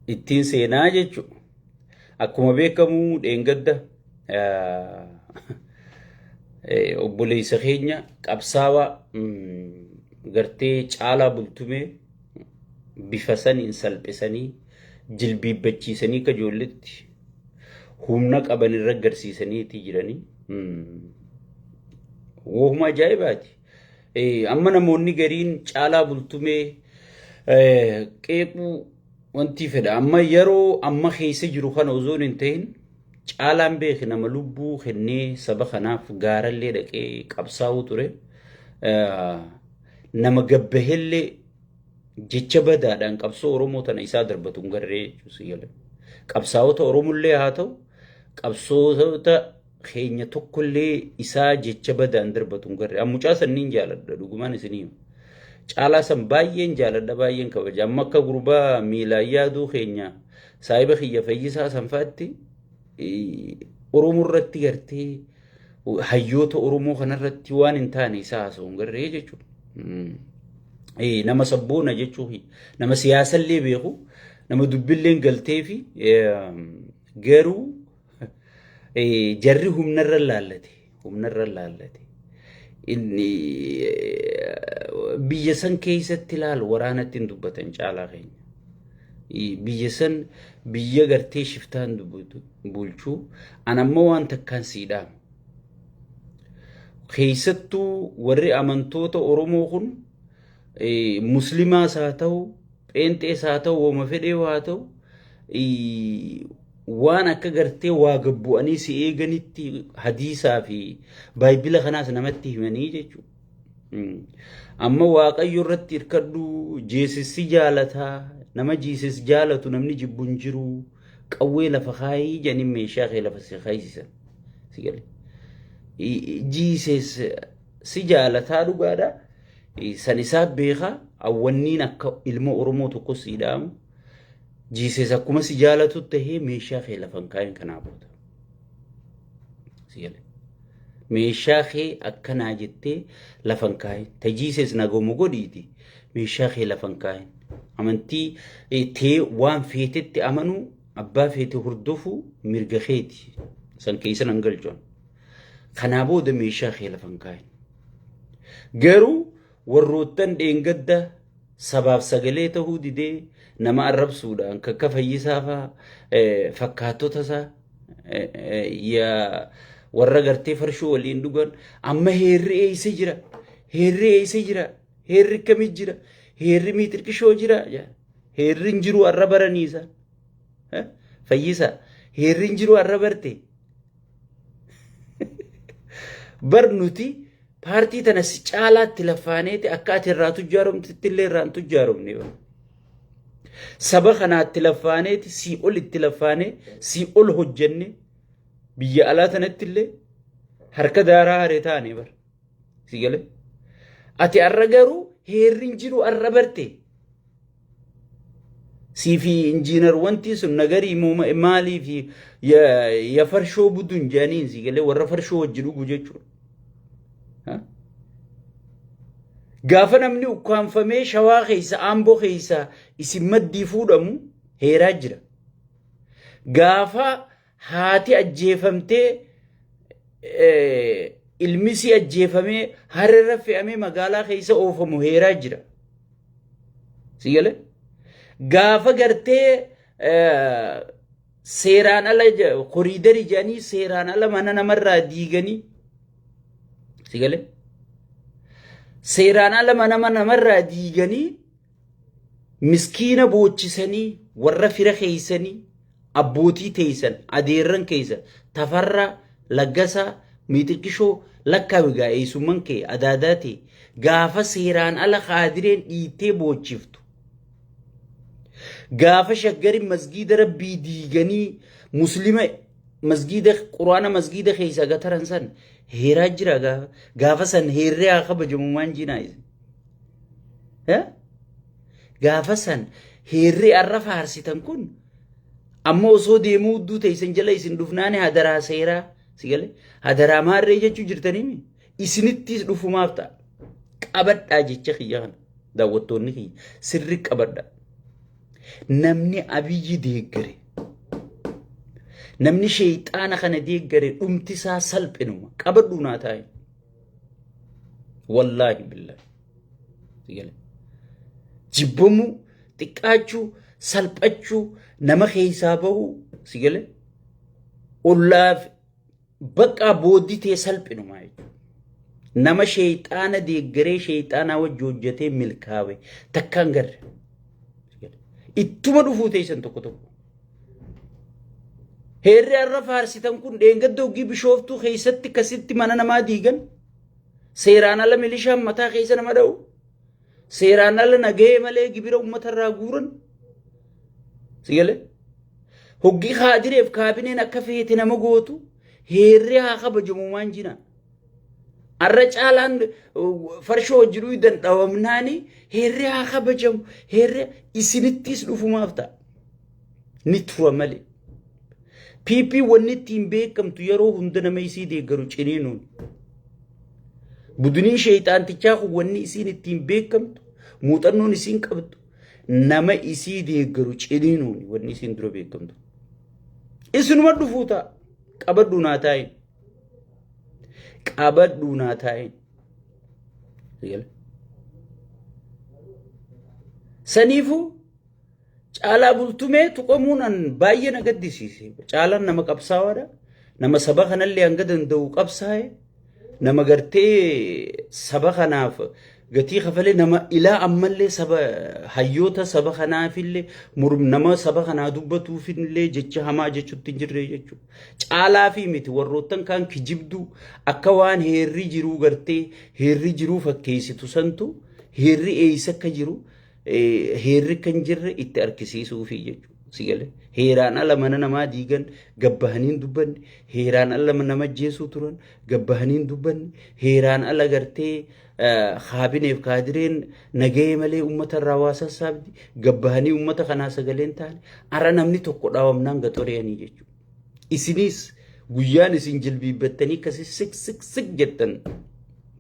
ittiin seenaa jechuudha. Akkuma beekamu dheengadda obboleessa keenya qabsaawaa gartee caalaa bultumee bifa saniin salphisanii jilbiibbachiisanii akka ijoolletti humna qaban irra garsiisaniiti jiranii. Wohuma ajaa'ibaati. Amma namoonni gariin caalaa bultumee qeequu wanti fedha. Amma yeroo amma keessa jiru kana osoo hin ta'in caalaan beeki nama lubbuu kennee saba kanaaf gaarallee dhaqee qabsaa'uu ture. Nama gabbahellee jecha badaadhaan qabsoo Oromoo tana isaa darbatu hin garree jechuus qabsaa'ota Oromollee haa ta'u qabsoota keenya tokkollee isaa jecha badaan darbatu hin garre. An mucaa san niin jaaladha dhugumaan isinii hima. Caalaa san baay'een jaaladha baay'een kabaja. Amma akka gurbaa miilaan yaaduu keenya saahiba kiyya fayyisaa san fa'aatti eh, Oromoo irratti gartee hayyoota Oromoo kanarratti waan hin taane isaa haasa'u hin garree jechuudha. Mm. Eh, nama sabboona jechuu kiyya. nama siyaasallee beeku nama dubbilleen galtee fi eh, garuu Eh, Jarri humnarra laallate. Humnarra laallate. Inni eh, biyya san keessatti laal waraanatti hin dubbatan caalaa keenya. I- Biyya san biyya gartee shiftaan dubbatu- bulchuu. An amma waan takkaan sii dhaamu. keessattuu warri amantoota Oromoo kun eh, muslimaas haa ta'u, pheenxees haa ta'u, woma fedhee haa ta'u, eh, waan akka gartee waa gad bu'anii si eeganitti hadiisaa fi baayibila kanaas namatti himanii jechuudha. Mm. Amma waaqayyo irratti hirkadhu jeesissi jaalataa nama jiisis jaalatu namni jibbu hin jiru qawwee lafa kaayii jedhanii meeshaa kee lafa si kaayisisan. Si gale. I- i- Jiisis si jaalataa dhugaadha. I- San isaa beekaa awwanniin akka ilma Oromoo tokkos si dhaamu. Jiisees akkuma si jaalatu tahee meeshaa kee lafa hin kaa'in kanaa booda. Si galee. Meeshaa kee akkanaa jettee lafa hin kaa'in. Ta jiisees nagoomu godhiiti. Meeshaa kee lafa hin kaa'in. Amantii eh, tee waan feetetti amanuu abbaa feete hordofuu mirga keeti. San keessa nan galchuun. Kanaa booda meeshaa kee lafa hin kaa'in. Garuu Warroottan dheengadda sabaaf sagalee tahuu didee nama arrabsuudhaan kan akka Fayyisaa faa fakkaattota isaa warra gartee farshoo waliin dhugan amma heerri eeysa jira heerri eeysa jira heerri akkamii jira heerri miixirqishoo jira heerri hin jiru arra baraniisa fayyisa heerri hin jiru arra barte Bar nuti paartii tana si caalaatti laffaaneeti akka ati irraa tujjaaromtitti illee irraan tujjaaromne. Saba kanaatti laffaaneeti sii ol itti laffaanee sii ol hojjenne biyya alaa tanatti illee harka daaraa haree taane bar. Si galee? Ati har'a garuu heerri hin jiru har'a barte. Siifi injiinar wanti sun nagarii moo ma- maaliif ya, ya farshoo buduun jedhaniin sii galee warra farshoo wajji dhugu jechuudha. Ha? Gaafa namni ukkaanfamee shawaa keessa aamboo keessa isin maddii fuudhamu heeraa jira. Gaafa Haati ajjeefamtee ilmisii ajjeefamee harrerra fe'amee magaalaa keessa oofamu heeraa jira. Si galee? Gaafa gartee seeraan ala koriidarii jedhanii seeraan ala mana namarraa diiganii si galee? Seeraan ala mana namarraa diiganii Miskiina boochisanii warra fira keessanii abbootii teessan adeerran keessan Tafarraa, Laggasaa, Miixirqishoo lakkaawi gaa eessumman kee adaadaa tee gaafa seeraan ala kaadireen dhiittee boochiftu gaafa shaggarin masgiida rabbii diiganii muslima masgiida quraana masgiida keessaa gataran san heeraa jira gaafa gaafa san heerree haa kabajamu maan jinaa isin. Gaafa san heerri har'a faarsitan kun amma osoo deemuu udduu teessan jala isin dhufnaani hadaraa seeraa si galee hadaraa maarree jechuu jirtanii isinittis dhufumaaf ta'a. Qabadhaa jecha kiyya kana daawwattoonni kiyya sirri qabadhaa. Namni abiyyi deeggare namni sheexaana kana deeggare dhumtisaa salphinuma qabadhuu naa taa'e. wallaahi billaahi si gale jibbamuu xiqqaachuu salphachuu nama keessaa bahuu si gale ollaaf baqqaa booddee tee salphinuma jechuudha. nama sheeyxaana deeggaree sheeyxaanaa wajji hojjetee milkaawe takkaan garre ittuma dhufuu teessan tokko tokko Heerri har'a faarsitan kun dheengadda hoggii bishooftuu keessatti kasitti mana namaa diigan seeraan ala milishaan mataa keessa nama dha'u seeraan ala nagahee malee gibira uummata irraa guuran sigale hoggii kaadireef kaabineen akka feete nama gootu heerri haa kabajamu maan jinaan. Arra caalaan farshoo hojii dhuydan dhawamnaani heerri haa kabajamu heerri isinittis dhufumaaf ta'a. Ni tura malee. PP wanni ittiin beekamtu yeroo hunda nama isii deeggaru ciniinuun. Budiniin sheeyxaantichaa kun wanni isiin ittiin beekamtu muuxannoon isiin qabdu nama isii deeggaru ciniinuun wanni isiin dura beekamtu. Isinuma dhufuu ta'a qabadhu naa taa'in. qabadhuu naa taa'in. Eegale. Saniifuu caalaa bultumee tuqamuun an baay'ee na gaddisiise. Caalaan nama qabsaawaadha. Nama saba kanallee hanga danda'u qabsaa'e. Nama gartee saba kanaaf gatii kafalee nama ilaa ammallee saba hayyoota saba kanaafillee murm nama saba kanaa dubbatuufillee jecha hamaa jechuutti hin jirre jechuudha. Caalaa fi miti warroottan kaan kijibduu akka waan heerri jiruu gartee heerri jiruu fakkeessitu santu heerri eeysa akka jiru heerri akka hin jirre itti argisiisuufi jechuudha. Si galee heeraan ala mana namaa diigan gabbahanii hin dubbanne heeraan ala nama ajjeesuu turan gabbahanii hin dubbanne heeraan ala gartee kaabineef kaadireen nagahee malee uummata irraa waa sassaabdi gabbahanii uummata kanaa sagaleen taane ara namni tokko dhaawamnaan gaxoreeyanii jechuudha. Isiniis guyyaan isin jilbiibbattanii akkasii sik sik sik jettan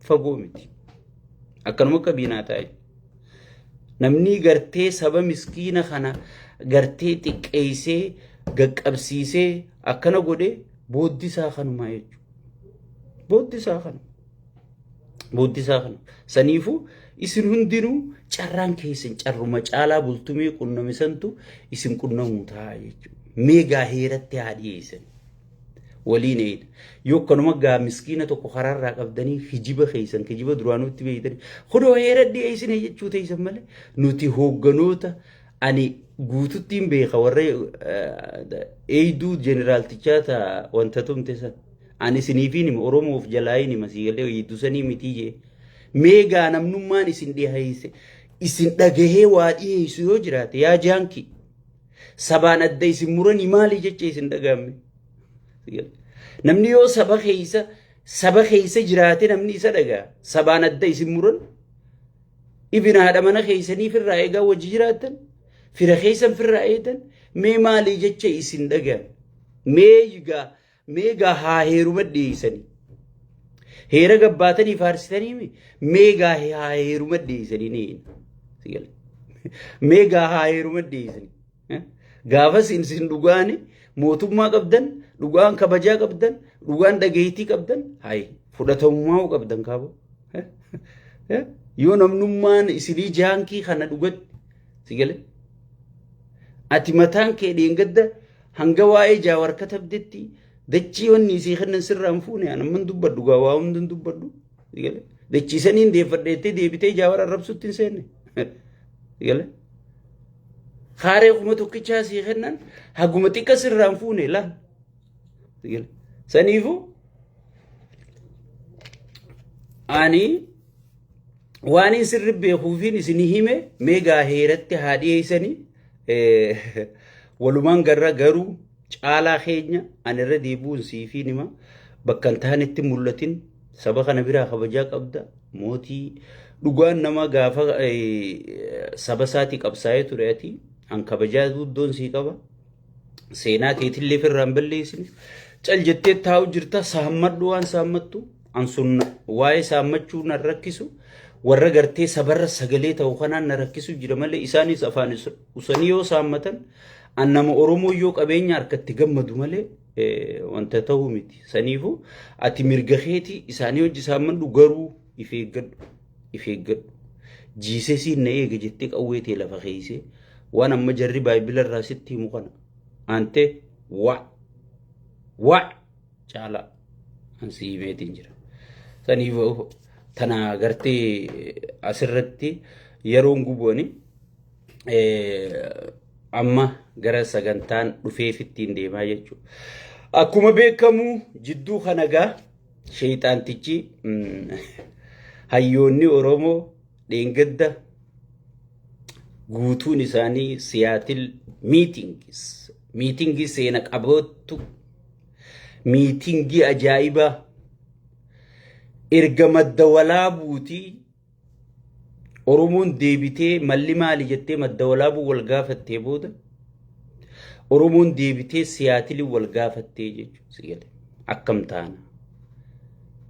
fagoo miti. Akkanuma akka biinaa taa'e. Namni gartee saba miskiina kana gartee xiqqeessee gaqqabsiisee akkana godhe booddisaa kanumaa jechuudha. Booddisaa kana. Booddisaa kana. Saniifuu isin hundinuu carraan keessan carruma caalaa bultumee qunnamisantu isin qunnamuu ta'a jechuudha. Meegaa heeratti haa dhiyeessan. Waliin eeyda. Yoo akkanuma gaa miskiina tokko karaarraa qabdanii kijiba keessan kijiba duraanuu itti beeytanii kunoo heera dhiyeessine jechuu teessan malee nuti hoogganoota ani guututtiin beeka warra eeyduu jeneraaltichaa ta wanta tumte san. Ani isiniifiin hima Oromoof jalaayiin hima sii galee eeyduu sanii mitii jee. Meegaa namnummaan isin dhiyeesse isin dhagahee waa dhiyeessu yoo jiraate yaa jaankii. Sabaan adda isin muranii maali jecha isin dhagahamme. Namni yoo saba keessa saba keessa jiraate namni isa dhagaha. Sabaan adda isin muran ibin haadha mana keessanii firraa eegaa wajji jiraatan fira keessan firraa eedan mee maali jecha isin dhagahan. Mee egaa Meegaa haa heeruma dhiyeessanii. Heera gabbaatanii faarsitanii mi? Meegaa haa heeruma dhiyeessanii ni hin. Si gale. Meegaa haa heeruma dhiyeessanii. Eh? Gaafas in sin dhugaani mootummaa qabdan, dhugaan kabajaa qabdan, dhugaan dhageettii qabdan, hayi fudhatamummaa hoo qabdan kaaboo. Eh? Eh? Yoo namnummaan isinii jaankii kana dhugatti si gale. Ati mataan kee dheengadda Hanga waa'ee jaawar katabdetti dachii wanni isii kennan sirraa hin fuune an amman dubbadhu gaa waa hunda hin dubbadhu gale dachii saniin deeffadheettee deebitee jaawar arrabsutti hin seenne gale haaree kuma tokkichaa sii kennan haguma xiqqa sirraa hin fuune laan gale saniifuu ani waan isin beekuufiin isin hime meegaa heeratti haa dhiyeessanii Walumaan garra garuu caalaa keenya ani irra deebi'uun siifii nima bakka hin taanetti mul'atin saba kana biraa kabajaa qabda mootii dhugaan nama gaafa saba isaatii qabsaa'ee ture ati an kabajaa guddoon sii qaba seenaa keetillee firraan balleessine cal jettee taa'u jirta saammadhu waan saammattu. An sun waa'ee saammachuu na rakkisu warra gartee sabarra sagalee ta'u kanaan na rakkisu jira malee isaanis afaan is- usanii yoo saammatan an nama Oromoo yoo qabeenya harkatti gammadu malee eh, wanta ta'uu miti. Saniifuu ati mirga keetii isaanii hojii saammadhu garuu if eeggadhu. If eeggadhu. Jiisesiin na eega jettee qawwee tee lafa keeysee waan amma jarri baayibila irraa sitti himu kana. Antee waa waa Caalaa an si himeetiin jira. Saniif tana gartee asirratti yeroon gubu'ani amma gara sagantaan dhufeefittiin deemaa jechuudha. Akkuma beekamu jidduu kana gaa sheeyxaantichi hayyoonni Oromoo dheengadda guutuun isaanii siyaatil miitingis miitingii seena qaboottu miitingii ajaa'ibaa erga madda walaabuuti Oromoon deebitee malli maali jettee madda walaabuu wal gaafattee booda Oromoon deebitee siyaatili wal gaafattee jechuudha si gale akkam taana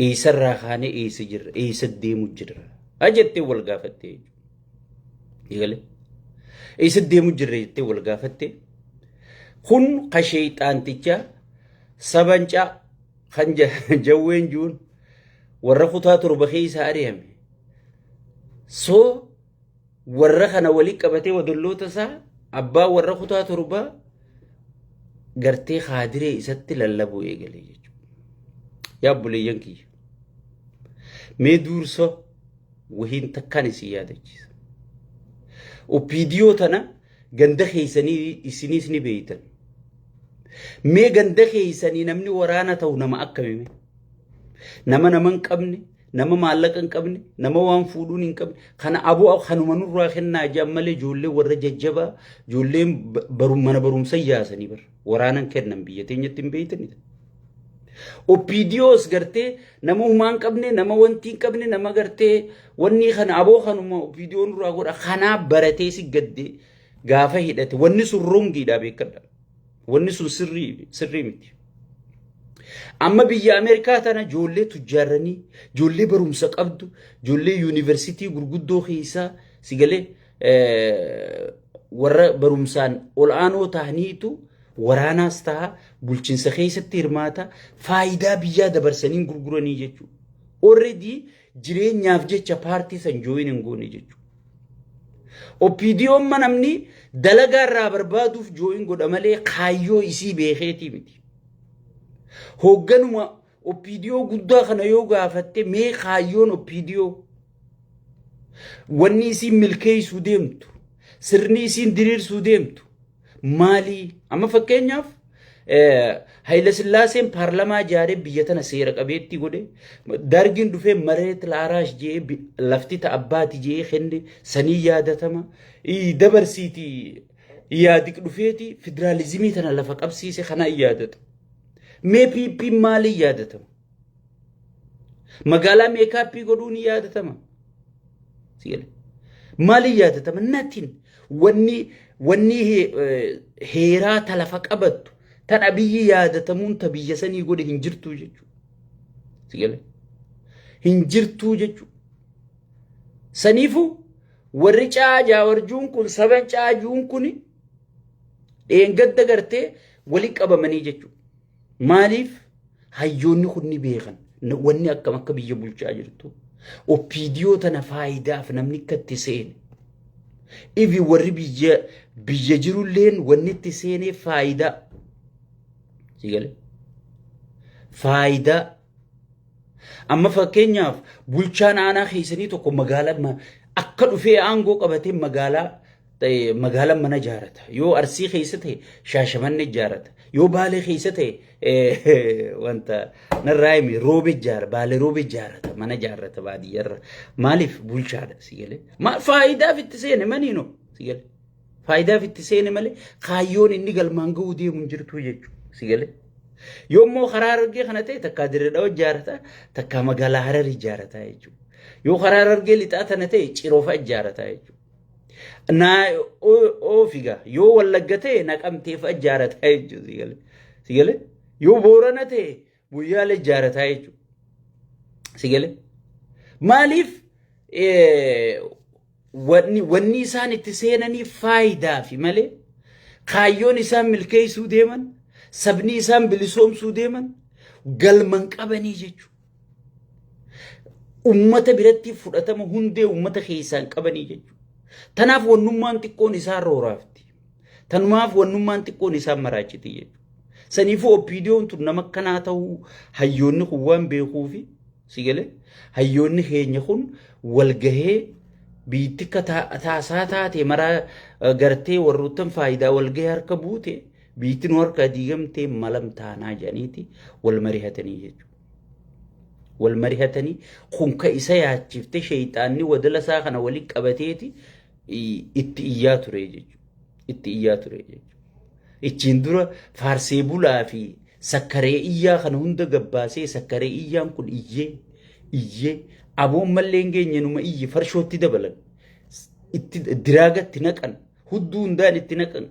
eessarraa kaanee eessa jirra eessa deemu jirra jettee wal gaafattee jechuudha. Eegale. Eessa deemu jirra jettee wal gaafatte. Kun ka sheeyxaanticha sabancaa kan jawween juun warra kutaa torba keessa ari'ame. Soo warra kana walii qabatee wadolloota isaa abbaa warra kutaa torbaa gartee kaadiree isatti lallabuu eegale jechuudha. Yaa obboleeyyan kiyya. Mee duursa wahiin takkaan isin yaadachiisa. Opiidiyoo tana ganda keessanii isiniis ni beeytan. Mee ganda keessanii namni waraana ta'u nama akkamime? Nama nama hin qabne, nama maallaqa hin qabne, nama waan fuudhuun hin qabne, kana aboo kanuma nurraa kennaa jedhan malee ijoollee warra jajjabaa, ijoolleen mana barumsa yaasanii bara. Waraanan kennan biyya teenyatti hin beeytani. OPDOs gartee nama humaa hin qabne, nama wanti hin qabne, nama gartee wanni kana aboo kanuma OPDO nurraa godha kanaa baratee si gadde gaafa hidhate wanni sun rongiidha beekadha. Wanni sun sirrii sirrii miti. Amma biyya Ameerikaa tana ijoollee tujjaarranii, ijoollee barumsa qabdu, ijoollee yuunivarsiitii gurguddoo keessaa si galee warra barumsaan ol'aanoo ta'aniitu waraanaas ta'a bulchiinsa keessatti hirmaata faayidaa biyyaa dabarsanii gurguranii jechuudha. Already jireenyaaf jecha paartii san jooyin hin goone jechuudha. Oppiidiyoon namni dalagaa irraa barbaaduuf jooyin godha malee kaayyoo isii beekeetii miti. Hoogganuma Oppiidiyoo guddaa kana yoo gaafatte mee kaayyoon oppiidiyoo wanni isiin milkeessuu deemtu sirni isiin diriirsuu deemtu maalii amma fakkeenyaaf Hayilasillaaseen paarlamaa ijaaree biyya tana seera qabeettii godhe dargiin dhufee mareet laaraash jee lafti ta abbaati jee kenne sanii yaadatama dabarsiiti yaadik dhufeeti federaalizimii tana lafa qabsiise kana yaadata. Mee PP maaliin yaadatama? Magaalaa meekaappii godhuu ni yaadatama. Si jedhe. Maaliin yaadatama? Natiin wanni wanni he- eh, heeraa ta lafa qabattu tan abiyyi yaadatamuun ta biyya sanii godhe hin jirtuu jechuudha. Si jedhe. Hin jirtuu jechuudha. Saniifuu warri caa jaawarjuun kun saban caajuun kuni Dheengadda gartee wali qabamanii jechuudha. Maaliif hayyoonni kun ni beekan wanni akkam akka biyya bulchaa jirtu. Oppiidiyoo tana faayidaaf namni akka itti seene. Ifi warri biyya biyya jirulleen wanni itti seenee faayidaa. Sigalee. Faayidaa Amma fakkeenyaaf bulchaan aanaa keessanii tokko magaalaa akka dhufee aangoo qabatee magaalaa magaalaan mana ijaarata. Yoo Arsii keessa ta'e Shaashamanne ijaarata. Yoo Baalee keessa ta'e wanta narraa hime roobe ijaara. Baalee roobe ijaarata. Mana ijaarata baadiyyarra. Maaliif bulchaadha si galee? Maal faayidaaf itti seene maniinoo si galee? Faayidaaf itti seene malee kaayyoon inni galmaan ga'uu deemu hin jirtu jechuudha. Si galee? Yoommoo karaa argee kana ta'e takkaa dirree dhawa ijaarata takkaa magaalaa hararii ijaarata jechuudha. Yoo karaa argee lixaa tana ta'e ciroofa ijaarata jechuudha. Naa oofiga yoo wallagga ta'e naqamteefa ijaarata jechuudha. Si galee? Yoo boorana ta'e Guyyaalee ijaarataa jechuudha. Si galee? Maaliif wanni isaan itti seenanii faayidaa fi malee kaayyoon isaan milkeessuu deeman sabni isaan bilisoomsuu deeman galman qabanii jechuudha. Uummata biratti fudhatama hundee uummata keessaan qabanii jechuudha. Tanaaf wannummaan xiqqoon isaan rooraafti. Tanumaaf wannummaan xiqqoon isaan maraachiti jechuudha. Saniifuu oppiidiyoon tun nama akkanaa ta'uu hayyoonni kun waan beekuufi si galee hayyoonni keenya kun walgahee biitti akka taasaa taate maraa gartee warroottan faayidaa walgahee harka buute biitti nu harkaa diigamtee malam taanaa jedhaniiti wal marihatanii jechuudha. Wal marihatanii kun ka isa yaachiftee sheeyxaanni wadala isaa kana waliin qabateeti itti iyyaa ture jechuudha. Itti iyyaa ture jechuudha. Ichiin dura faarsee bulaa fi sakkaree iyyaa kana hunda gabbaasee sakkaree iyyaan kun iyyee iyyee aboon mallee hin geenye numa iyye farshootti dabalan itti diraagatti naqan hudduu hundaan itti naqan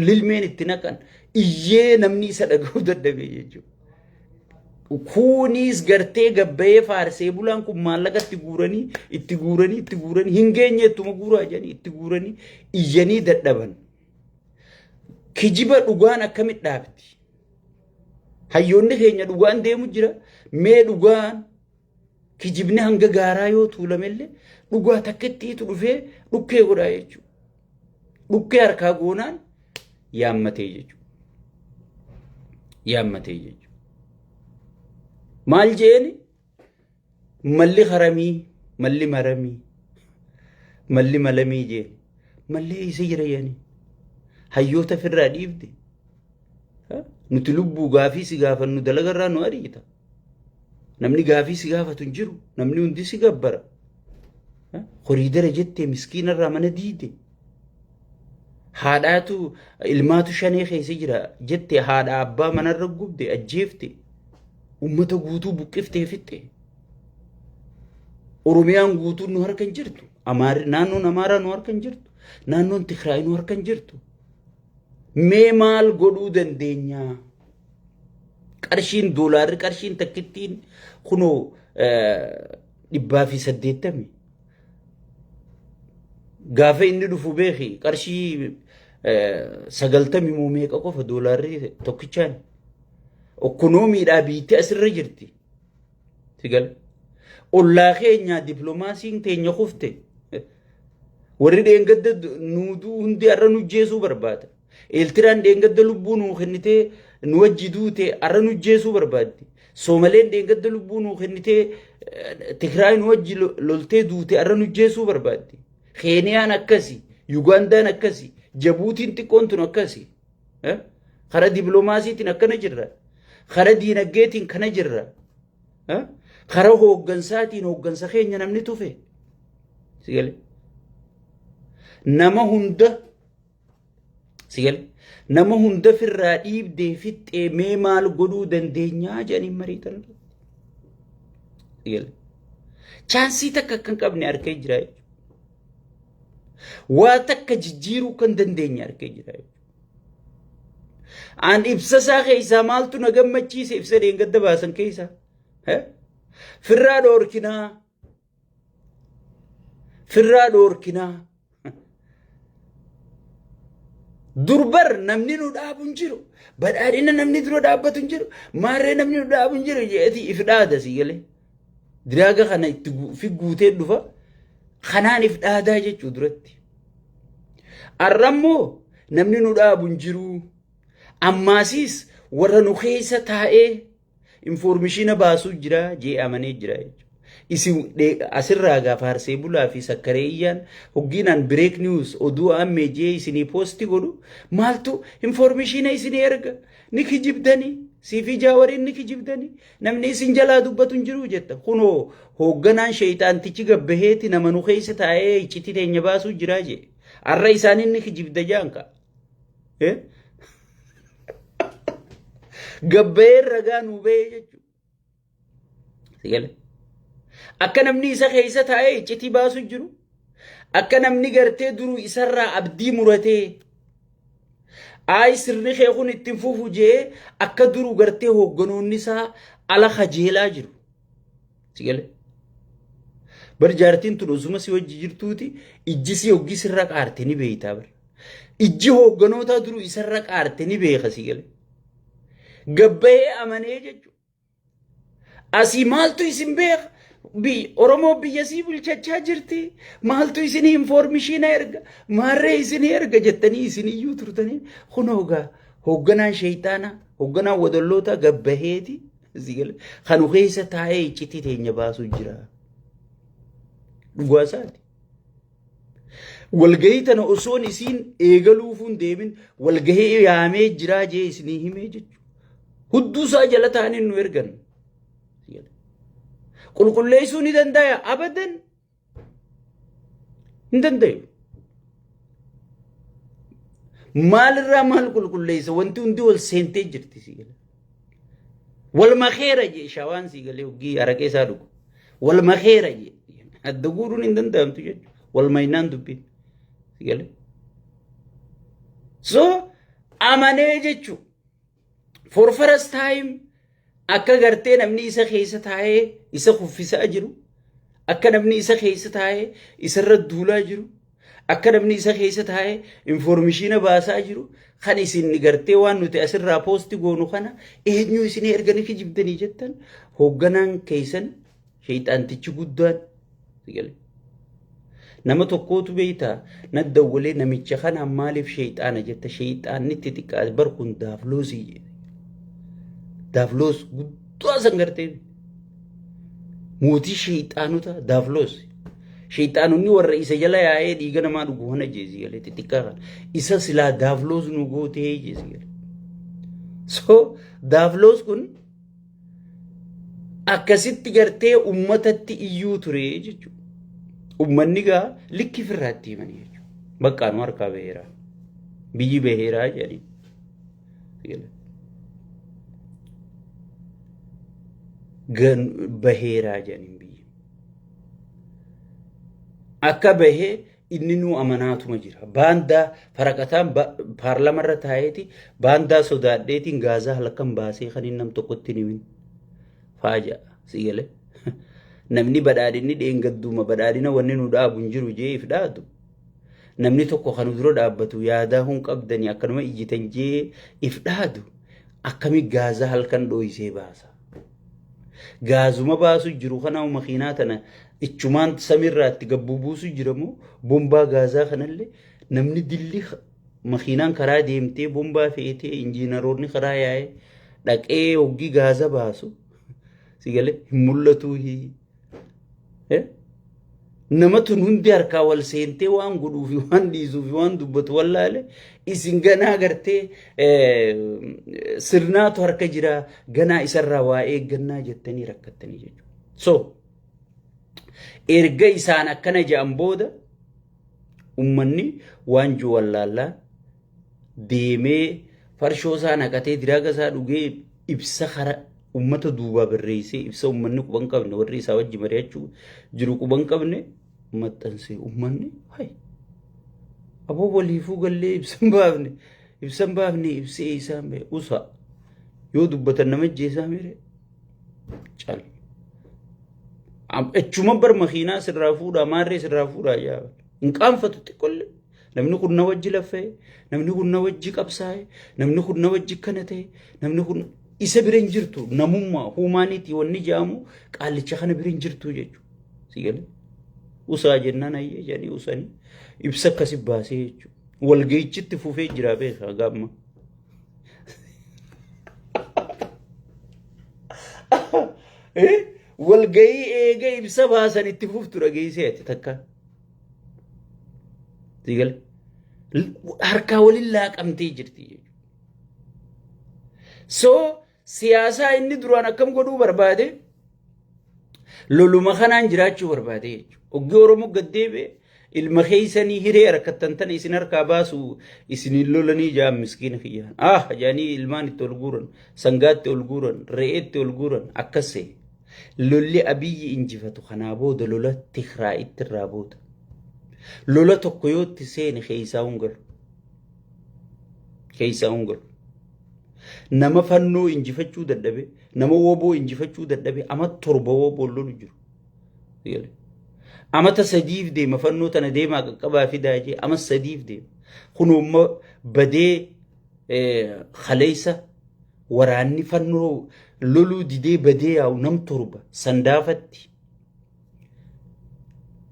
lilmeen itti naqan iyyee namni isa dhaga'uu dadhabee jechuudha. Kunis gartee gabbayee faarsee bulaan kun maallaqa itti guuranii itti guuranii itti guuranii hin geenye ittuma guuraa jedhanii itti guuranii iyyanii dadhaban. Kijiba dhugaan akkamitti dhaabdi? Hayyoonni keenya dhugaan deemu jira. Mee dhugaan Kijibni hanga gaaraa yoo tuulamellee dhugaa takkittiitu dhufee dhukkee godhaa jechuudha. Dhukkee harkaa goonaan yaammatee jechuudha. Yaammatee jechuudha. Maal jeeni? Malli haramii, malli maramii, malli malamii jeeni. Malli eessa jira jeeni? Hayyoota firraa dhiifte. Nuti lubbuu gaafii si gaafannu dalagarraa nu ariita. Namni gaafii si gaafatu hin jiru. Namni hundi si gabbara. Koriidara jettee miskiina irraa mana diide. Haadhaatu ilmaatu shanee keessa jira jette haadha abbaa manarra gubde ajjeefte. Uummata guutuu buqqiftee fixxe. Oromiyaan guutuun nu harka hin jirtu. Amaarri naannoon Amaaraa nu harka hin jirtu. Naannoon Tigraay nu harka hin jirtu. Mee maal godhuu dandeenyaa? Qarshiin doolaarri qarshiin takkittiin kunoo dhibbaa fi saddeettami. Gaafa inni dhufu beeki qarshii sagaltami moo meeqa qofa doolaarri tokkichaan. Okkonoomiidhaa biitti asirra jirti. Sigal. Ollaa keenya diplomaasiin teenya kufte. Warri dheengadda nuuduu hundi har'a nujjeesuu barbaada. Eeltiraan dheengadda lubbuu nuu kennitee nu wajji duute arra nu jeesuu barbaaddi. Soomaleen dheengadda lubbuu nuu kennitee Tigraay nu wajji loltee duute arra nu jeesuu barbaaddi. Keeniyaan akkasi, Yugaandaan akkasi, Jabuutiin xiqqoon tun akkasi. Kara dipiloomaasiitiin akkana jirra. Kara diinagdeetiin kana jirra. Kara hooggansaatiin hooggansa keenya namni tufe. Nama hunda Sigal nama hunda firraa dhiibdee fixxee mee maal godhuu dandeenyaa jedhanii mariitan. Sigal chaansii takka kan qabne harkee jira jechuudha. Waa takka jijjiiruu kan dandeenye harkee jira jechuudha. Aan ibsasaa keessaa maaltu na gammachiise ibsa deengadda baasan keessaa. Firraa dhoorkinaa Firraa dhoorkinaa. Durbar namni nu dhaabu hin jiru. Badhaadhina namni dura dhaabbatu hin jiru. Maarree namni nu dhaabu hin jiru jedheti if dhaada si galee. Diraaga kana itti gu- fi guutee dhufa. Kanaan if dhaadaa jechuu duratti. Arrammoo namni nu dhaabu hin jiru. Ammaasiis warra nu keessa taa'ee Infoormishiina baasuu jira jee amanee jira Isin asirraa gaa faarsee bulaa fi sakkaree iyyaan hoggiinaan break news oduu ammee jee isinii poosti godhu maaltu infoormishiina isinii erga ni kijibdanii siifii jaawariin ni kijibdanii namni isin jalaa dubbatu hin jiru jetta kunoo hoogganaan sheeyxaantichi gabbaheeti nama nu keessa taa'ee iccitii teenya baasuu jira jee arra isaaniin ni kijibda jaanka Gabbayeen ragaa nuu bahee jechuudha. Sigale. Akka namni isa keessa taa'ee iccitii baasu jiru. Akka namni gartee duruu isarraa abdii muratee. Ayi sirni kee kun ittiin fufu jee akka duruu gartee hoogganoonni isaa ala kajeelaa jiru. Si galee? Bar jaartiin tun osuma si wajji jirtuuti ijji si hoggi sirra qaarte ni beeytaa bar. Ijji hoogganootaa duruu isarra qaarte ni beeka si galee. Gabbayee amanee jechuudha. Asii maaltu isin beeka? Bi- Oromoo biyya sii bulchachaa jirti. Maaltu isin infoormishiina erga? Maarree isin erga jettanii isin iyyuu turtanii. Kun hoogaa hoogganaan sheeyxaanaa, hoogganaan wadallootaa gabbaheeti. Asii gala. Kanu keessa taa'ee iccitii teenya baasuu jira. Dhugaa isaati. Walgahii tana osoon isiin eegaluufuun deemin walgahii yaamee jiraa jee isinii himee jechuudha. Hudduu isaa jala taa'anii nu ergan. Qulqulleessuu ni danda'a abadan. hin danda'u. Maalirraa maal qulqulleessa wanti hundi wal seentee jirti si gala. Wal makeera jee shawaan si galee hoggii araqee isaa dhugu. Wal makeera jee adda guuruun hin danda'amtu jechuudha. Wal maynaan dubbiin si galee. So amanee jechuudha. For first time akka gartee namni isa keessa taa'ee isa kuffisaa jiru, akka namni isa keessa taa'ee isarra duulaa jiru, akka namni isa keessa taa'ee informishiina baasaa jiru, kan isin gartee waan nuti asirraa poosti goonu kana eenyu isin erganii kijibdanii jettan hoogganaan keessan Sheeyxaantichi guddaan sigale. Nama tokkootu beeyta na dawwalee namicha kana maaliif sheeyxaana jetta sheeyxaanni itti xiqqaate bar kun daafloosii jedhe. Daafloos guddaa san gartee mootii sheeyxaanota daafloos. Sheeyxaanonni warra isa jala yaa'ee dhiiga namaa dhugu hona jeesi galee xixiqqaa kana. Isa silaa daafloos nu gootee jeesi galee. So daafloos kun akkasitti gartee ummatatti iyyuu ture jechuudha. Ummanni gaa likki firraatti himanii jechuudha. Baqqaa nu harkaa baheera. Biyyi baheera jedhanii. Gan baheera jedhanii biyyi. Akka bahee inninuu amanaatuma jira. Baandaa faraqataan paarlamarra taa'eeti baandaa sodaadheetiin gaazaa halkan baasee kan inni nam tokkotti himin. Faaja si galee. Namni badhaadhinni dheengadduuma badhaadhina wanni nu dhaabu hin jiru jee if dhaadu. Namni tokko kan dura dhaabbatu yaadaa hun qabdanii akkanuma ijjitan jee if dhaadu. Akkami gaazaa halkan dhooyisee baasa. Gaazuma baasuu jiru kanaa makiinaa tana ichumaan samiirraatti gabbuu buusuu jira moo bombaa gaazaa kanallee namni dilli makiinaan karaa deemtee bombaa feetee injiinaroonni karaa yaa'ee dhaqee hoggii gaaza baasu si galee hin mul'atuu hii. Nama tun hundi harkaa wal seentee waan godhuu fi waan dhiisuu fi waan dubbatu wallaale isin ganaa gartee sirnaatu harka jira ganaa isarraa waa eeggannaa jettanii rakkattanii jechuudha. So erga isaan akkana jedhan booda ummanni waan jiru wallaallaan deemee farshoo isaa naqatee diraaga isaa dhugee ibsa kara ummata duubaa barreessee ibsa ummanni quban qabne warri isaa wajji mari'achuu jiru quban qabne maxxansee ummanni hay aboo waliifuu gallee ibsan baafne ibsan baafne ibsee isaan bee usa yoo dubbatan nama jeesaa mire cal achuma bar makiinaa sirraa fuudhaa maarree sirraa fuudhaa yaa hin qaanfatu xiqqollee Namni kun na wajji laffee, namni kun na wajji qabsaa'e, namni kun na wajji kana ta'e, namni kun isa bira hin jirtu namummaa huumaaniitii wanni jaamu qaallicha kana bira hin jirtu jechuudha. Si galee? Usaa jennaan ayyee jedhanii usanii ibsa akkasi baasee jechuudha. Walga'ichitti fufee jira beekaa gaamma. Walga'ii eega ibsa baasan itti fuftu dhageessee ati takka. Siigal harkaa waliin laaqamtee jirti jechuudha. So siyaasaa inni duraan akkam godhuu barbaade loluma kanaan jiraachuu barbaade jechuudha. Oggi Oromoo gad deebi'e ilma keessanii hiree harkattan tana isin harkaa baasu isin hin lolanii ja'an miskiina kiyyaan. Ah jaanii ilmaan itti ol guuran sangaatti ol guuran re'eetti ol guuran akkas ta'e. Lolli Abiyyi injifatu kanaa booda lola Tigraayitti irraa booda. Lola tokko yoo itti seene keessaa hin galu. Keessaa hin galu. Nama fannoo injifachuu dadhabe, nama woboo injifachuu dadhabe, ama torba woboon lolu jiru. Amata sadiif deema fannoo tana deemaa qaqqabaa fidaa jee ama sadiif deema. Kun umma badee kaleessa Waraanni fannoo loluu didee badee yaa'u nam torba sandaafatti.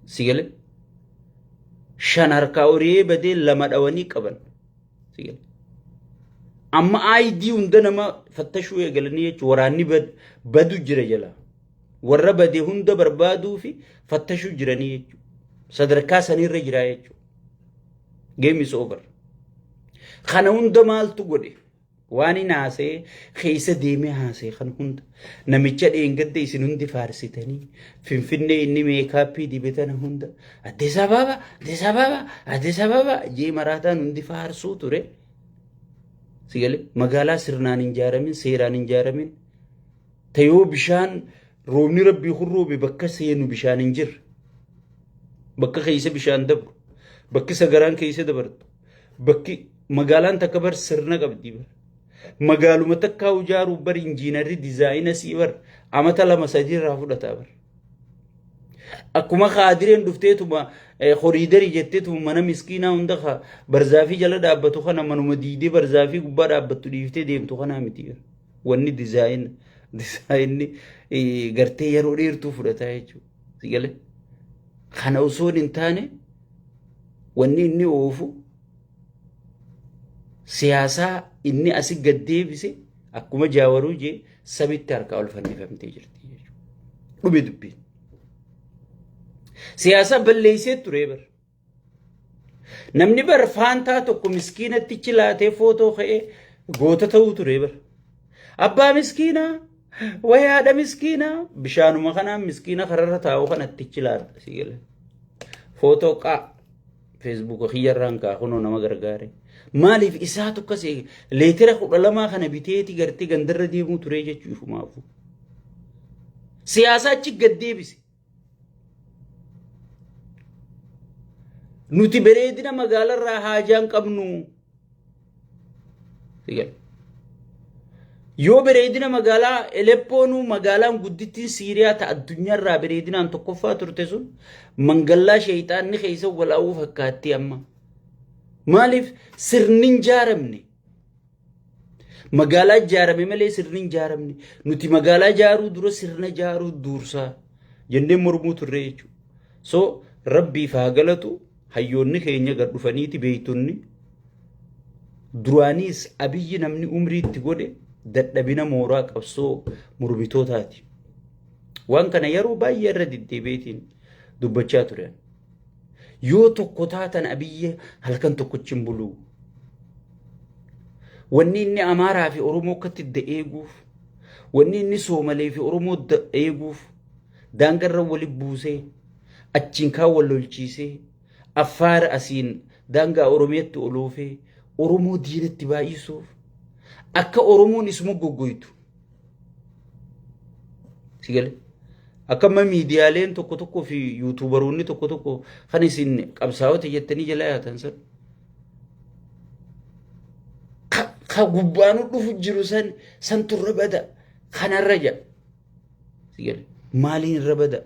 Sigale shan harkaa horee badee lama dhawanii qaban. Sigale. Amma ID hunda nama fattashuu eegalanii jechuun waraanni bad- badu jira jala. Warra bade hunda barbaaduu fi fattashuu jiranii jechuudha. Sadarkaa sanirra jiraa jechuudha. Game is over. Kana hunda maaltu godhe? Waan hin haasee keessa deemee haasee kan hunda namicha dheengadda isin hundi faarsitanii finfinnee inni meekaappii dibatan hunda Addis Ababa Addis Ababa Addis Ababa jee maraataan hundi faarsuu ture. Sigalee magaalaa sirnaan hin ijaaramin seeraan hin ijaaramin tayoo bishaan roobni rabbii kun roobe bakka seenu bishaan hin jirre bakka keessa bishaan dabru bakki sagaraan keessa dabartu Bakki magaalaan takka bar sirna qabdi bar. Magaaluma takkaa ijaaruuf bar injiinarri dizaayina sii bar amata lama sadii irraa fudhataa bar. Akkuma kaadireen dhufteetuma horiidarii jetteetuma mana miskiinaa hunda ka barzaafii jala dhaabbatu kana manuma diidee barzaafii gubbaa dhaabbattu dhiiftee deemtu kanaa miti. Wanni dizaayina dizaayinni gartee yeroo dheertuu fudhataa jechuudha. Sigale. Kana osoo hin taane wanni inni oofu siyaasaa inni asi gad deebise akkuma jaawaruu jee sabitti harkaa ol fannifamtee jirti jechuudha. Dhume dubbiin. Siyaasaa balleessee ture bara. Namni bar faantaa tokko miskiinattichi laatee footoo ka'ee goota ta'uu ture bar. Abbaa miskiinaa wayi haadha miskiinaa bishaanuma kanaan miskiina kararra taa'u kanattichi laata si gala. Footoo qaa feesbuuka kiyyarraan kaa kunoo nama gargaare. Maaliif isaatu akkas eege leetira kudha lamaa kana biteeti gartee gandarra deemuu ture jechuu ifumaafu. Siyaasaa achi gad deebise. Nuti bareedina magaalarraa haajaan qabnu. Yoo bareedina magaalaa Eleppoonuu magaalaan guddittiin Siiriyaa ta addunyaarraa bareedinaan tokkoffaa turte sun mangallaa sheeyxaanni keessa walaa'uu fakkaatti amma. Maaliif sirni hin jaaramne? Magaalaa ijaarame malee sirni hin ijaaramne. Nuti magaalaa ijaaruu dura sirna ijaaruu duursaa jennee mormuu turre jechuudha. So rabbiif haa galatu hayyoonni keenya gad dhufaniiti beektonni duraaniis abiyyi namni umrii itti godhe dadhabina mooraa qabsoo mormitootaati. Waan kana yeroo baay'ee irra deddeebiitiin dubbachaa turan. Yoo tokko taatan abiyyi halkan tokkochi hin buluu. Wanni inni Amaaraa fi Oromoo akkatti idda eeguuf, wanni inni Soomalee fi Oromoo idda eeguuf, daangarra wali buusee, achiin kaan wal lolchiisee, Affaara asiin daangaa Oromiyaatti ol oofee, Oromoo diinatti baay'isuuf, akka Oromoon is moggogoytu, Si gale? Akkamma miidiyaaleen tokko tokko fi yuutuubaroonni tokko tokko kan isin qabsaa'ota jettanii jala yaatan san. Ka- Ka gubbaanu dhufu jiru san santu irra bada kanarra jedha. Si gale? Maaliin irra bada?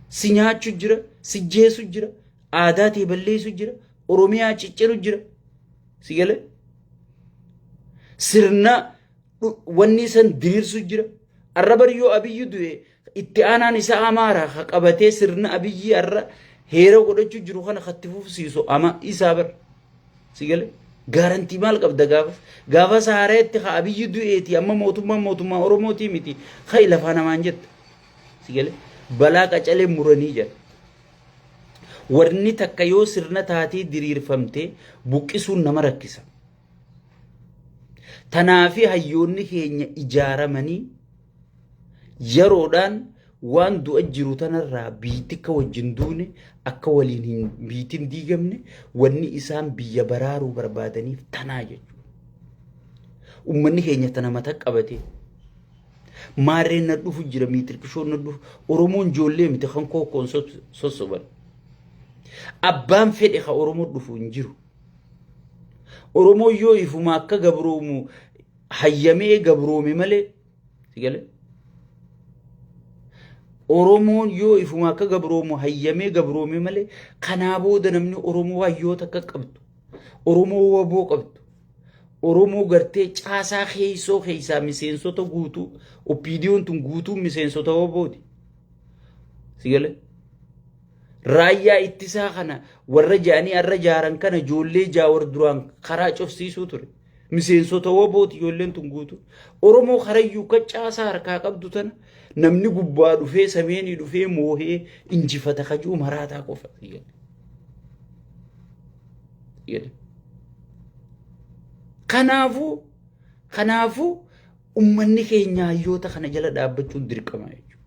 Si nyaachu jira, si jeesu jira, aadaa tee balleessu jira, Oromiyaa cicciru jira. Si gale? Sirna dhu- wanni san diriirsu jira. Arra bari yoo abiyyi du'e itti aanaan isa amaara ha qabatee sirna abiyyi arra heera godhachuu jiru kana hatti fufsiisu ama isaa bar. Si gale? Gaarantii maal qabda gaafas? Gaafas haareetti ha abiyyi du'eeti amma mootummaan mootummaa Oromootii miti. Hayi lafaa namaan jetta. Si gale? Balaa qacalee muranii jedha. Warni takka yoo sirna taatee diriirfamte buqqisuun nama rakkisa. Tanaafi hayyoonni keenya ijaaramanii yeroodhaan waan du'a jiru tanarraa biitti akka wajjin duune akka waliin hin biitin diigamne wanni isaan biyya baraaruu barbaadaniif tanaa jechuudha. Uummanni keenya tana mata qabatee Maarreen nadhufu jira miitirkishoon nadhufu. Oromoon joollee miti kan kookkoon sossoban. Abbaan fedhe ka Oromoo dhufu hin jiru. Oromoo yoo ifuma akka gabroomu hayyamee gabroome malee si galee. Oromoon yoo ifuma akka gabroomu hayyamee gabroome malee kanaa booda namni Oromoo hayyoota akka qabdu Oromoo waboo qabdu Oromoo gartee caasaa keessoo keessaa miseensota guutuu oppiidiyoon tun guutuu miseensota obooti. Sigale. Raayyaa ittisaa kana warra jaanii arra jaaran kana ijoollee jaawar duraan karaa cufsiisuu ture. Miseensota obooti ijoolleen tun guutuu. Oromoo karayyuu kan caasaa harkaa qabdu tana Namni gubbaa dhufee sameenii dhufee moohee injifata kajuu maraataa qofa. Kanaafuu kanaafuu ummanni keenya hayyoota kana jala dhaabbachuun dirqama jechuudha.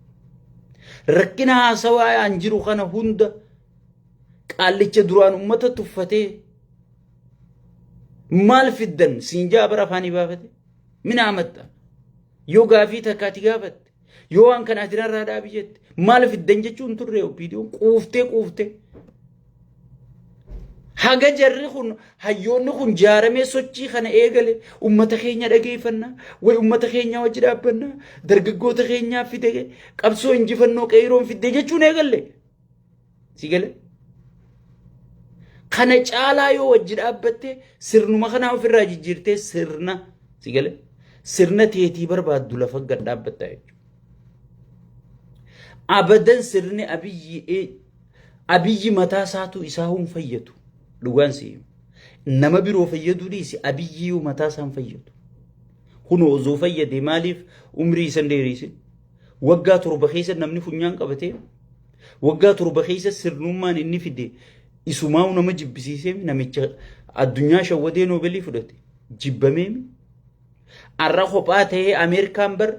Rakkina haasawaa an jiru kana hunda qaallicha duraan ummata tuffatee maal fiddan siin jaa bara afaanii baafate minaa maxxan. Yoo gaafii takka ati gaafatte, yoo waan kana ati narraa dhaabi jette, maal fiddan jechuun turre OPDOn quuftee quuftee. Haga jarri kun hayyoonni kun jaaramee sochii kana eegale ummata keenya dhageeffanna way ummata keenya wajji dhaabbanna dargaggoota keenyaa fide qabsoo injifannoo qeeroon fidde jechuun eegalle. Si gale? Kana caalaa yoo wajji dhaabbatte sirnuma kanaa ofirraa jijjiirtee sirna si gale? Sirna teetii barbaaddu lafa gad dhaabbatta jechuudha. Abadan sirni abiyyi abiyyi mataa isaatu isaa hin fayyadu. Dhugaan si himu. Nama biroo fayyaduu dhiisi abiyyi yoo mataa isaa hin fayyadu. Kun osoo fayyade maaliif umrii isan dheerisin? Waggaa torba keessa namni funyaan qabatee waggaa torba keessa sirnummaan inni fide isumaa'u nama jibbisiisee namicha addunyaa shawwadee noobeelii fudhate jibbamee har'a kophaa ta'ee Ameerikaan bar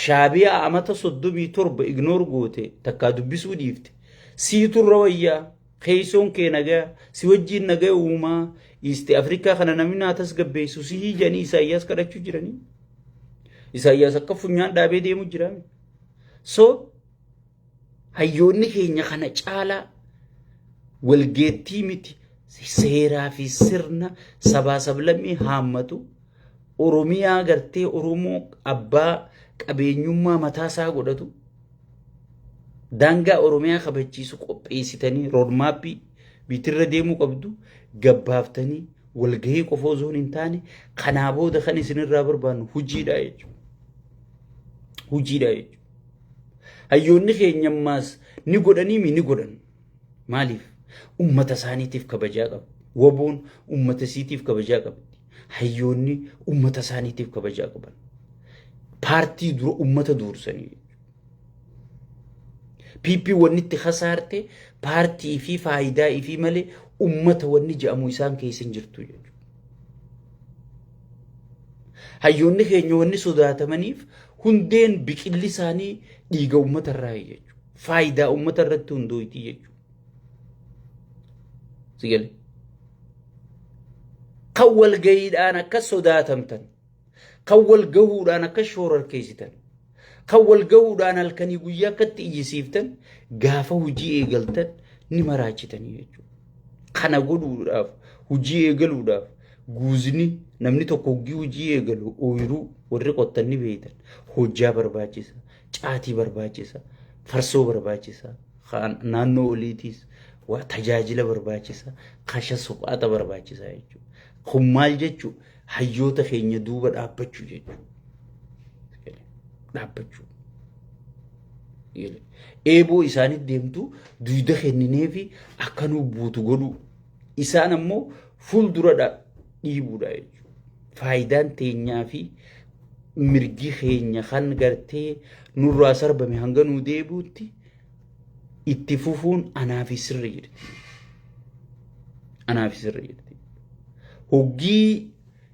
shaabiyaa amata soddomii torba ignoor goote takkaa dubbisuu dhiifte siitu irra wayyaa. Keessoon kee nagaya, si wajjiin nagaya uumaa, Iisti Afrikaa kana namni naa tasgabbeessu sihii jedhanii Isaayyaas kadhachuu jiranii. Isaayyaas akka funyaan dhaabee deemu jira. So hayyoonni keenya kana caalaa walgeettii miti seeraa fi sirna sabaa sablammii haammatu Oromiyaa gartee Oromoo abbaa qabeenyummaa mataa isaa godhatu. daangaa Oromiyaa kabachiisu qopheessitanii roodmaappii biitirra deemuu qabdu gabbaaftanii walgahii qofa osoo hin taane kanaa booda kan isinirraa barbaannu hojiidha jechuudha. Hojiidha jechuudha. Hayyoonni keenya ammaas ni godhanii mi ni godhan. Maaliif? Uummata isaaniitiif kabajaa qabu. Waboon uummata isiitiif kabajaa qabdi. Hayyoonni uummata isaaniitiif kabajaa qaban. Paartii dura uummata duursanii. PP wanni itti kasaarte paartii fi faayidaa ifii malee uummata wanni jedhamu isaan keessa hin jirtu jechuudha. Hayyoonni keenya wanni sodaatamaniif hundeen biqilli isaanii dhiiga uummata irraa jechuudha. faayidaa uummata irratti hundooyti jechuudha. Sigale. Kan walgayiidhaan akka sodaatamtan, kan walgahuudhaan akka shoorarkeessitan, kan walgahuudhaan halkanii guyyaa akkatti iyyisiiftan gaafa hojii eegaltan ni maraachitanii jechuudha. Kana godhuudhaaf hojii eegaluudhaaf guuzni namni tokko hoggii hojii eegalu ooyiruu warri qottan ni beeytan hojjaa barbaachisa. Caatii barbaachisa, farsoo barbaachisa, kaan naannoo oliitiis waa tajaajila barbaachisa, kasha suphaata barbaachisa jechuudha. Kun maal jechuudha? Hayyoota keenya duuba dhaabbachuu jechuudha. Dhaabbachuu. Eeboo isaanitti deemtu duyda kenninee fi akka nu buutu godhuu. Isaan ammoo fuuldura dha- dhiibuudha jechuudha. Faayidaan teenyaa fi mirgi keenya kan gartee nurraa sarbame hanga nuu deebi'utti itti fufuun anaaf sirri jirti. Anaaf sirri jirti. Hoggii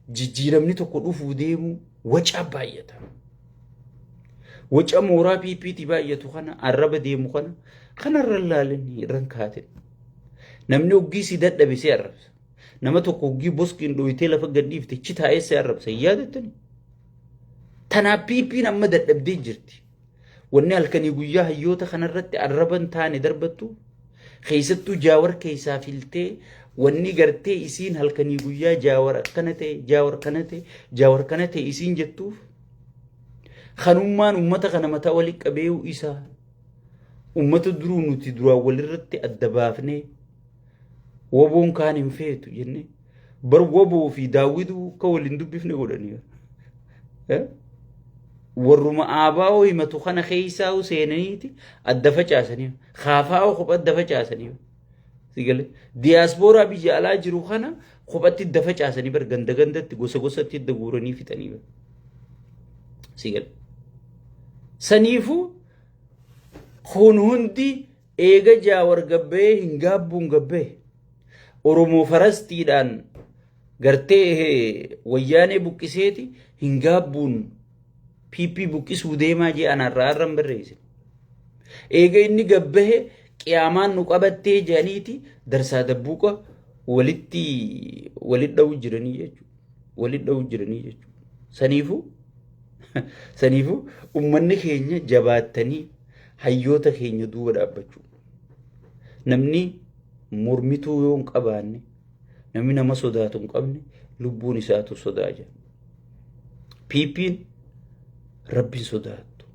jijjiiramni tokko dhufuu deemu wacaa baay'ata. Waca mooraa PPT baay'atu kana arraba deemu kana kanarra ilaalin irran kaatin. Namni hoggii si dadhabe si arrabsa. Nama tokko hoggii boskiin dhooytee lafa gadhiifte chi taa'ee si arrabsa hin yaadattani. Tanaa piipiin amma dadhabdee jirti. Wanni halkanii guyyaa hayyoota kanarratti arraban taane darbattu keessattuu jaawar keessaa filtee wanni gartee isiin halkanii guyyaa jaawar akkana ta'e jaawar kana ta'e jaawar kana ta'e isiin jettuuf kanummaan uummata kana mataa wali qabee'uu isaa uummata duruu nuti duraan walirratti adda baafnee Woboon kaan hin feetu jennee. Bar woboo fi daawwituu akka wal hin dubbifne godhanii. Eh? Warruma aabaa'oo himatu kana keessaa'u seenaniiti adda facaasanii. Kaafaa'oo kopha adda facaasanii. Sigalee diyaaspooraa biyya alaa jiru kana kophatti adda facaasanii bar ganda gandatti gosa gosatti adda guuranii fixanii. bar. Sigalee. Saniifuu kun hundi Eega Jaawar gabba'ee hin gaabbuun gabba'e. Oromoo farastiidhaan gartee wayyaanee buqqiseeti hin gaabbuun PP buqqisuu deemaa jee anaarraa har'an barreesse. Eega inni gabbahe qiyaamaan nu qabattee jedhaniiti darsaa dabbuuqa walitti walit dha'uu jiranii jechuudha. waliin dha'uu jiranii jechuudha. Saniifuu saniifuu uummanni keenya jabaattanii hayyoota keenya duuba dhaabbachuu. Namni mormituu yoo hin qabaanne namni nama sodaatu hin qabne lubbuun isaatu sodaa jira. Piippiin rabbiin sodaattu.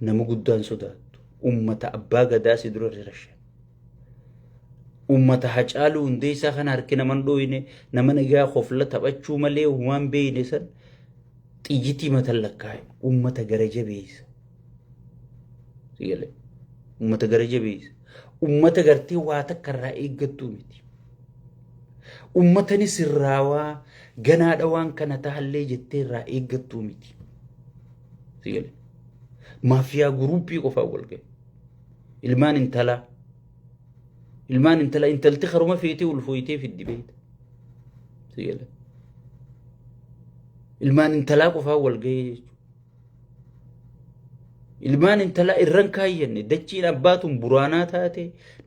Nama guddaan sodaattu. Uummata abbaa gadaa si dura rirashan. Uummata Hacaaluu Hundeessaa kana harki naman dhooyne nama nagaa kofla taphachuu malee uumaan beeyne san xiyyitii matan lakkaa'e uummata gara jabeessa. Sigalee uummata gara jabeessa. Uummata gartee waa takka irraa eeggattuu miti. Uummatani sirraawaa ganaadha waan kana tahallee jettee irraa eeggattuu miti. Sigalee maafiyaa guruuppii qofaa wal ga'e. ilmaan intalaa ilmaan intala intalti karuma feetee ulfooytee fiddi beekta si gala ilmaan intalaa qofaa wal gahee jechuudha ilmaan intalaa irran kaayyanne dachiin abbaatuun buraanaa taate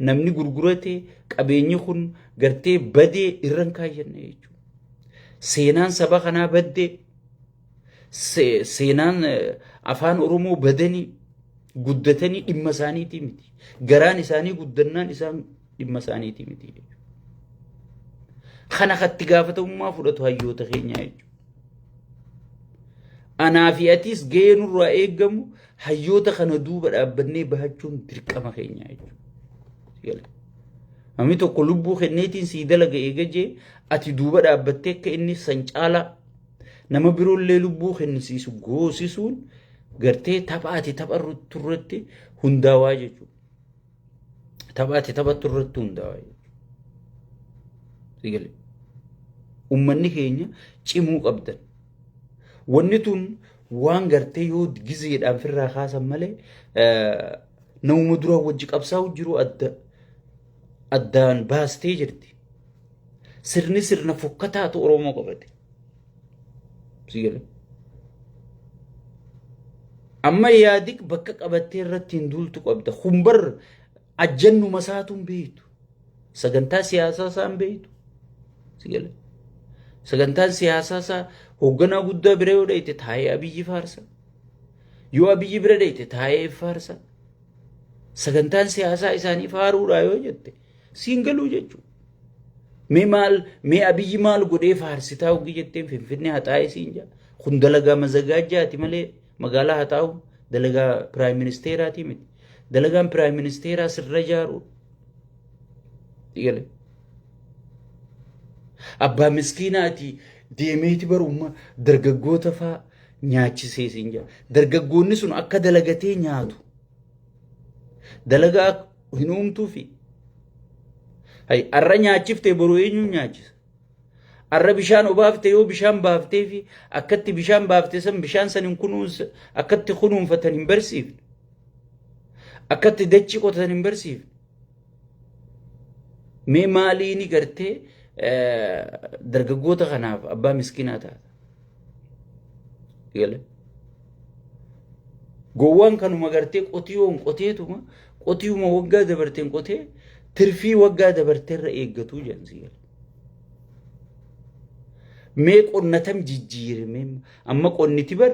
namni gurgurate qabeenyi kun gartee badee irran kaayyanne jechuudha seenaan saba kanaa baddee Se- Seenaan eh, afaan Oromoo badanii guddatanii dhimma isaaniitii miti. Garaan isaanii guddannaan isaan dhimma isaaniitii miti. Kana katti gaafatamummaa fudhatu hayyoota keenyaa jechuudha. Anaa fi atiis gahee nurraa eegamu hayyoota kana duuba dhaabbannee bahachuun dirqama keenya jechuudha. Gala. Namni tokko lubbuu kenneetiin sii dalaga eegajee ati duuba dhaabbattee akka inni san caalaa Nama biroollee lubbuu kennisiisu goosisuun gartee tapha ati taphattu irratti hundaawaa jechuudha. Tapha ati taphattu irratti hundaawaa jechuudha. Uummanni keenya cimuu qabdan. Wanni tun waan gartee yoo gizeedhaan firraa kaasan malee namuma duraan wajji qabsaa'u jiru adda. addaan baastee jirti. Sirni sirna fokkataatu Oromoo qabate. Amma yaadi bakka qabattee irratti hin duultu qabda. Kun bar ajjannuma isaatu hin beektu. Sagantaa siyaasaa isaa hin beektu. Sagantaan siyaasaa isaa hoogganaa guddaa bira yoo dhayte taa'ee abiyyi faarsa. Yoo abiyyi bira dhayte taa'ee faarsa. Sagantaan siyaasaa isaanii faaruudhaa yoo jette siin galuu jechuudha. Mee maal mee abiyyi maal godhee faarsitaa hogii jetteen finfinnee haxaa'ee siin jaa. Kun dalagaa mazagaajjaati malee magaalaa haxaa'u dalagaa piraayim ministeeraati miti. Dalagaan piraayim ministeeraa sirra ijaaruu. Dhigalee. Abbaa miskiinaati deemeeti barummaa dargaggoota faa nyaachisee siin jedha. Dargaggoonni sun akka dalagatee nyaatu. Dalagaa hin uumtuufi. Hay arra nyaachiftee boru eenyuun nyaachisa? Arra bishaan obaafte yoo bishaan baaftee fi akkatti bishaan baafte san bishaan san hin kunuunsa akkatti kunuunfatan hin barsiifne. Akkatti dachi qotatan hin barsiifne. Mee maaliini gartee dargaggoota kanaaf abbaa miskinaa taata? Galee. Gowwaan kanuma gartee qotiyoon qoteetuma qotiyuma waggaa dabarteen qotee tirfii waggaa dabarteerra eeggatuu jedhan si gala. Mee qonnatam jijjiirime amma qonniti bar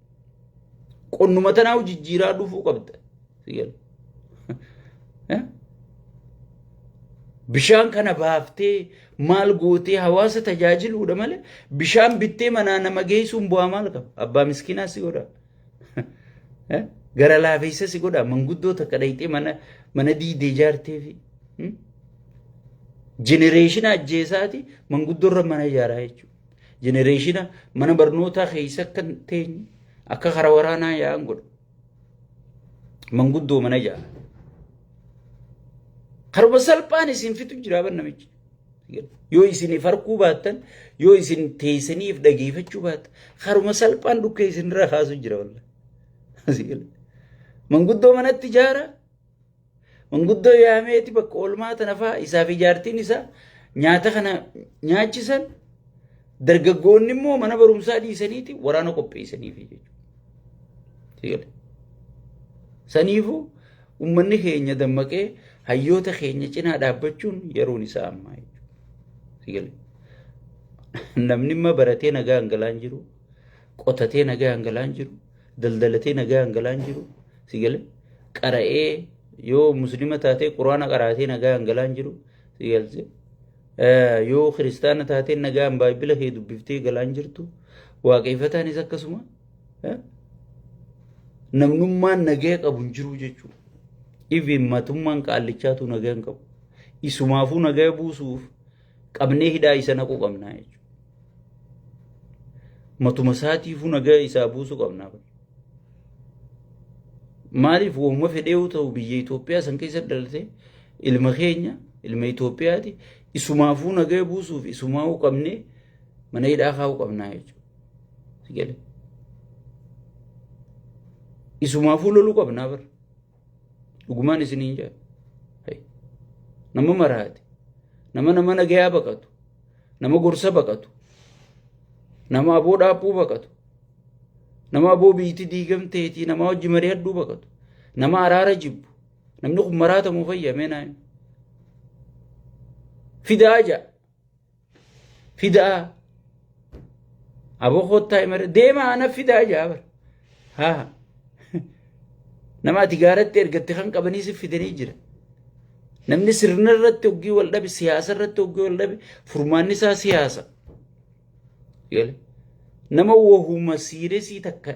Qonnuma tanaahu jijjiiraa dhufuu qabda. Si gala. Eh? Bishaan kana baaftee maal gootee hawaasa tajaajiluudha malee bishaan bittee manaa nama geessuun bu'aa maal qaba? Abbaa miskiinaa si godha. Eh? Gara laafeessa si godha. Manguddoo takka dhayxee mana mana diidee ijaartee fi jenereeshina ajjeesaati manguddoorra mana ijaaraa jechuudha. Jenereeshina mana barnootaa keessa akka hin teenye akka karaa waraanaa yaa'an godha. Manguddoo mana ja'a. Karuma salphaan isin fitu jira ban namichi. Yoo isiniif harkuu baattan yoo isin teessaniif dhageeffachuu baattan karuma salphaan dhukkee isinirra kaasu jira walla. Manguddoo manatti jaara Manguddoo yaameeti bakka oolmaa tana fa'aa isaa fi jaartiin isaa nyaata kana nyaachisan dargaggoonni immoo mana barumsaa dhiisaniiti waraana qopheessaniif jechuudha. Saniifuu uummanni keenya dammaqee hayyoota keenya cinaa dhaabbachuun yeroon isaa ammaa jechuudha. Namni immoo baratee nagaa hangalaan jiru, qotatee nagaa hangalaan jiru, daldalatee nagaa hangalaan jiru. si gale qara'ee yoo muslima taatee quraana qaraatee nagaan galaan jiru si galche yoo kiristaana taatee nagaan baay'ila kee dubbiftee galaan jirtu waaqeffataanis akkasuma namnummaan nagaya qabu hin jiru jechuudha. Iviin matummaan qaallichaatu nagaya hin qabu. Isumaafuu nagaya buusuuf qabnee hidhaa isa naquu qabnaa jechuudha. Matuma isaatiifuu nagaa isaa buusuu qabnaa. Maaliif waamuma fedheewu ta'u biyya Itoophiyaa san keessa dhalatee ilma keenya ilma Itoophiyaati isumaafuu nagaa buusuuf isumaafuu qabnee mana hidhaa kaa'uu qabnaa jechuudha. Isumaafuu loluu qabnaa bara. dhugumaan isiniin jedha Hai. nama maraate nama nama nagayaa baqatu nama gorsa baqatu nama aboo dhaabbuu baqatu nama aboo biyyiti diigamteetii nama hojii marii hedduu baqatu nama araara jibbu namni kun maraatamu fayyamee naayin fidaa ja'a fidaa aboo koottaa imara deemaa ana fidaa jaa bara haa nama ati gaaratti ergatte kan qabanii si fidanii jira namni sirna irratti hoggii wal dhabe siyaasa irratti hoggii wal dhabe furmaanni isaa siyaasa gale nama wahuma siiresii takka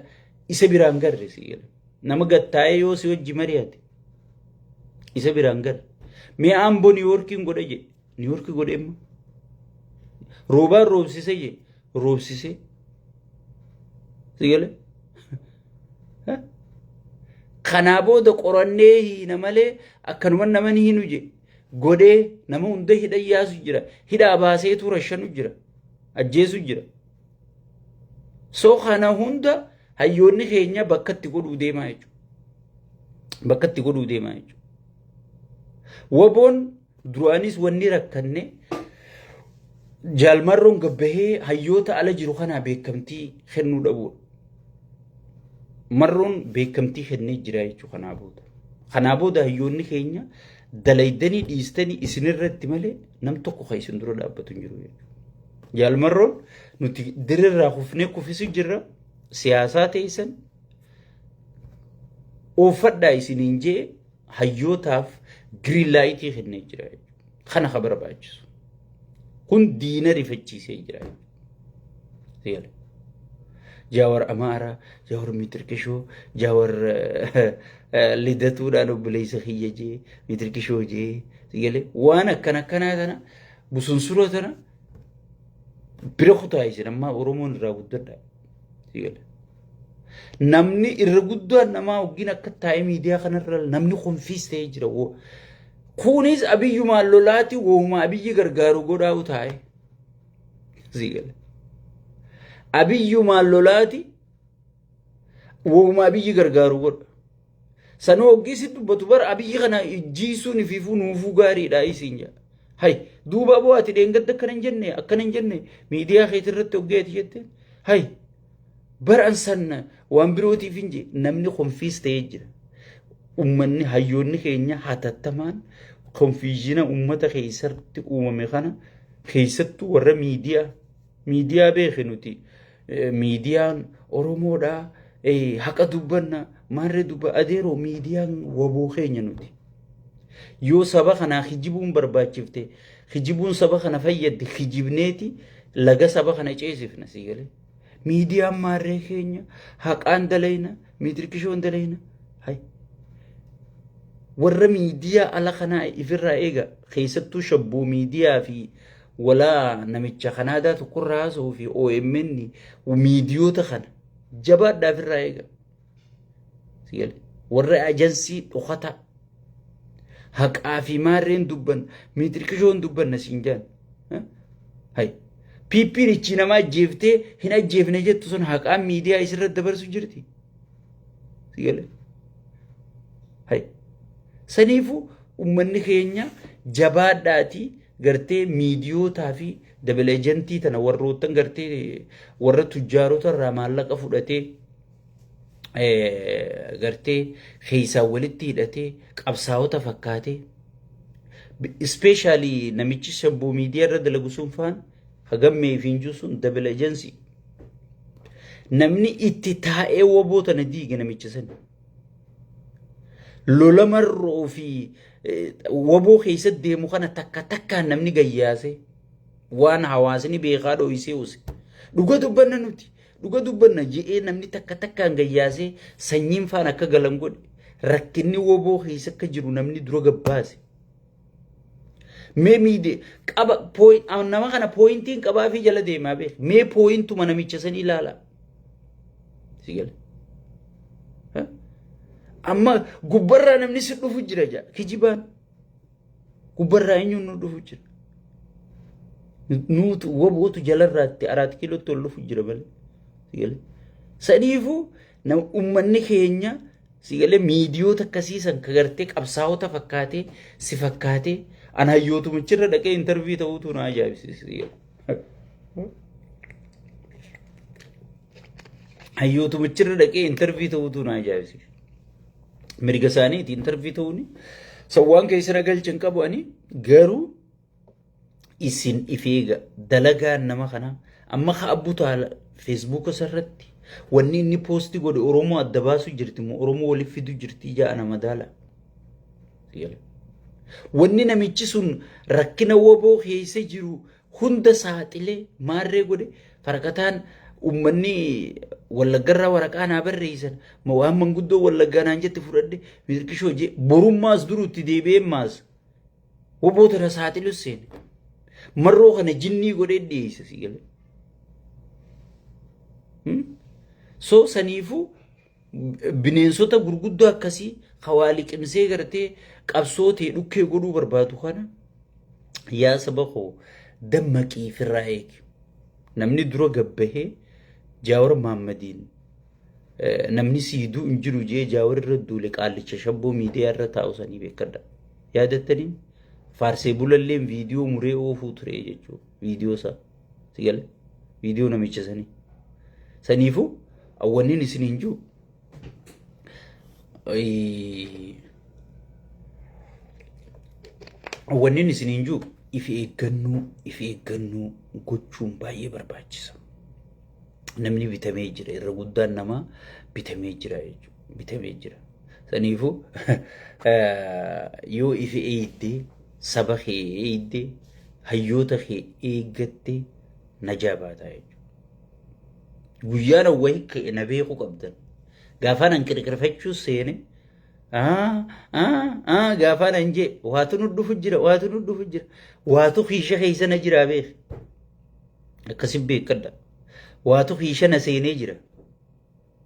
isa biraan garre si gale nama gattaa'ee yoo si wajji mari'ate isa biraan garre mee aamboo niiwoorkiin godha jedhe Niiwoorki godheemma. Roobaan roobsisee jee roobsisee. Sigale. Kanaa booda qorannee hiina malee akkanuma nama ni hinu jee godhee nama hunda hidha yaasu jira hidhaa baasee tuura shanu jira ajjeesu jira. So kana hunda hayyoonni keenya bakka itti godhuu deemaa jechuudha. Bakka itti godhuu deemaa jechuudha. Waboon Duraanis wanni rakkanne jaalmarroon gabbahee hayyoota ala jiru kanaa beekamtii kennuu dhabuudha. Marroon beekamtii kennee jira jechuudha kanaa booda. Kanaa booda hayyoonni keenya dalaydanii dhiistanii isinirratti malee nam tokko kan isin dura dhaabbatu hin jiru jechuudha. Jaalmarroon nuti dirirraa kufnee kufisu jirra siyaasaa teessan uuffadhaa isiniin jee hayyootaaf giriin laayitii kennee jira jechuudha. Kana ka barbaachisu. Kun diina rifachiisee jira jechuudha. Jaawar Amaara, Jaawar Mitirkishoo, Jaawar Lidatuudhaan obboleessa kiyya jee, Mitirkishoo jee, sigalee waan akkana akkanaa kana busunsura sana bira kutaa isin ammaa Oromoon irraa guddadha. Namni irra guddaan namaa waggiin akka taa'ee miidiyaa kanarra namni konfiis ta'ee jira. Kunis abiyyumaan lolaati wooma abiyyi gargaaru godhaa'u taa'e. Abiyyumaan lolaati wooma abiyyi gargaaru godha. Sanuu hoggii si dubbatu bar abiyyi kana jiisuun ifiifuu nuufuu gaariidha isiin jedha. Hay duuba aboo ati dheengadda akkana hin jenne akkana hin jenne miidiyaa keetii irratti hoggee ati jette hay bar an sanna waan birootiif hin je namni konfiis ta'ee jira. Ummanni hayyoonni keenya hatattamaan konfiizina ummata keessatti uumame kana keessattuu warra miidiyaa miidiyaa beeke nuti miidiyaan Oromoodhaa haqa dubbanna maarree dubba adeeroo miidiyaan waboo keenya nuti. Yoo saba kanaa kijibuun barbaachifte kijibuun saba kana fayyaddi kijibneeti laga saba kana ceesifna sii galee. Miidiyaan maarree keenya haqaan dalayna miitirkishoon dalayna. Warra miidiyaa ala kanaa ifirraa eega keessattuu shabboo miidiyaa fi Walaa namicha kan aadaa tokkorra haasa'uu fi OMN miidiyoota kana jabaadhaa ofirraa eega. Sigale. Warra ajansii dhokataa haqaa fi maarreen dubban miitirqishoon dubbanna siin jaan. Eh? Hai. Piippiin ichi nama ajjeeftee hin ajjeefne jettu sun haqaan miidiyaa isirra dabarsu jirti. Sigale. Hai. Saniifuu uummanni keenya jabaadhaatii gartee miidiyootaa fi dabel ejentii tana warroottan gartee warra tujjaarota irraa maallaqa fudhatee gartee keessaan walitti hidhatee qabsaa'ota fakkaatee ispeeshaalii namichi shabboo miidiyaa irra dalagu sun faan hagammee fi injuu sun dabel ejensii namni itti taa'ee waboo tana diige namicha sani. lola marroo fi waboo keessatti deemu kana takka takkaan namni gayyaase waan hawaasni beekaa dho'isee use. Dhuga dubbanna nuti. Dhuga dubbanna je'ee namni takka takkaan gayyaasee sanyiin faan akka galan godhe rakkinni waboo keessa akka jiru namni dura gabbaase. Mee miidee qaba pooyin nama kana pooyintiin qabaa fi jala deemaa beek mee pooyintuma namicha san ilaalaa. Si gale. Ha? Amma gubbarraa namni si dhufu jira jaa kijibaan gubbarraa eenyuun nu dhufu jira. Nuutu wabootu jalarraatti araat kiilootti ol dhufu jira malee. Si gale. Saniifuu Nama uummanni keenya sigalee miidiyoota akkasii san ka gartee qabsaa'ota fakkaatee si fakkaatee an hayyootumichirra dhaqee intarvii ta'uutu na ajaa'ibsiisa. Hayyootumichirra dhaqee intarvii ta'uutu na ajaa'ibsiisa. Mirga isaaniiti intarvii ta'uuni. Sawwaan keessa na galchan qabu ani garuu isin ifeega dalagaan nama kana amma ka abbu taala feesbuuka isarratti wanni inni poosti godhe oromoo adda baasuu jirti moo oromoo waliif fiduu jirti ijaa ana madaala wanni namichi sun rakkina waboo keessa jiru hunda saaxilee maarree godhe farqataan ummanni wallaggarraa waraqaa naa barreessan ma waan manguddoo wallaggaa naan jette fudhadhe mirqishoo jee borummaas durutti deebi'ee maas Woboo tana saaxilu seene. Marroo kana jinnii godhee dhiyeessa si galee. So saniifuu bineensota gurguddoo akkasii hawaali qimsee gartee qabsoo ta'e dhukkee godhuu barbaadu kana yaa saba koo dammaqii firraa eegi. Namni dura gabbahee jaawar maammadiin namni siiduu hin jiru jee jaawar irra duule qaallicha shabboo miidiyaa irra taa'u sanii beekadha. Yaadattanii faarsee bulalleen viidiyoo muree oofuu ture jechuudha. Viidiyoo isaa si gale viidiyoo namicha sanii. Saniifuu awwannin isin hin jiru. Awwannin isin hin jiru. Ifi eeggannoo ifi eeggannoo gochuun baay'ee barbaachisa. namni bitamee jira irra guddaan namaa bitamee jira jechuudha bitamee jira saniifu yoo ifi eeyidde saba kee eeyidde hayyoota kee eeggatte najaa baataa jechuudha guyyaan awwahi ka'e na beekuu qabdan gaafaan an qirqirfachuu seene gaafaan an jee waatu nu dhufu jira waatu nu dhufu jira waatu kiisha keessa na jiraa beeku Akkasi beekadha. Waatu hiishana seenee jira.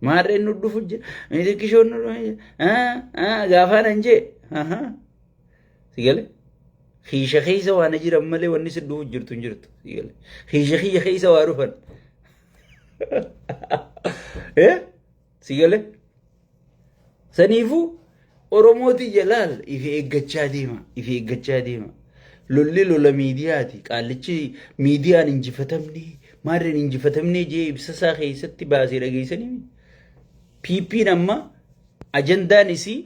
Maarreen nu dhufu jira. Miidhaggishoon nu dhufu jira. Gaafaan an jee. Sigale. Hiisha keessa waan jiran malee wanni si dhufu jirtu hin jirtu. Sigale. Hiisha kiyya keessa waa dhufan. Eh? Si galee? Saniifuu Oromooti jalaal ifi eeggachaa deema. Ifi eeggachaa deema. Lolli lola miidiyaati. Qaallichi miidiyaan injifatamne maarreen injifatamne jee ibsasaa keessatti baasee dhageessanii. PP'n amma ajandaan isii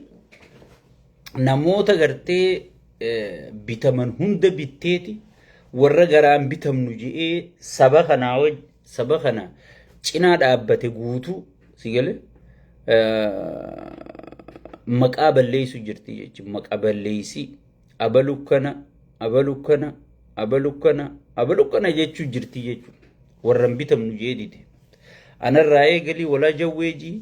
namoota gartee bitaman hunda bitteeti warra garaan bitamnu je'ee saba kanaa waj saba kana cinaa dhaabbate guutuu si gale maqaa balleessu jirti jechuun maqaa balleessi abalu kana abalu kana abalu kana abalu kana jechuu jirti jechuun warran bitamnu jeedite anarraa eegalii walaa jawweejii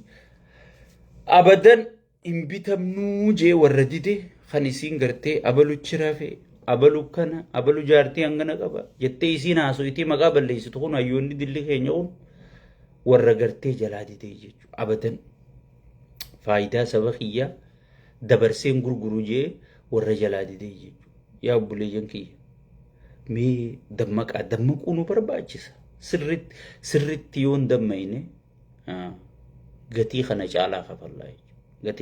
abadan hin bitamnuu jee warra dide kan isiin gartee abalu chirafe abalu kana abalu jaartii hangana qaba jettee isiin haaso itii maqaa balleessitu kun hayyoonni dilli keenya kun warra gartee jalaa didee jechu abadan faayidaa saba kiyyaa dabarseen gurguru jee warra jalaa didee jechu yaa obboleeyyan kiyya Mee dammaqaa dammaquu nu barbaachisa. Sirritti sirritti yoon dammaqne gatii kana caalaa kafallaa jechuudha.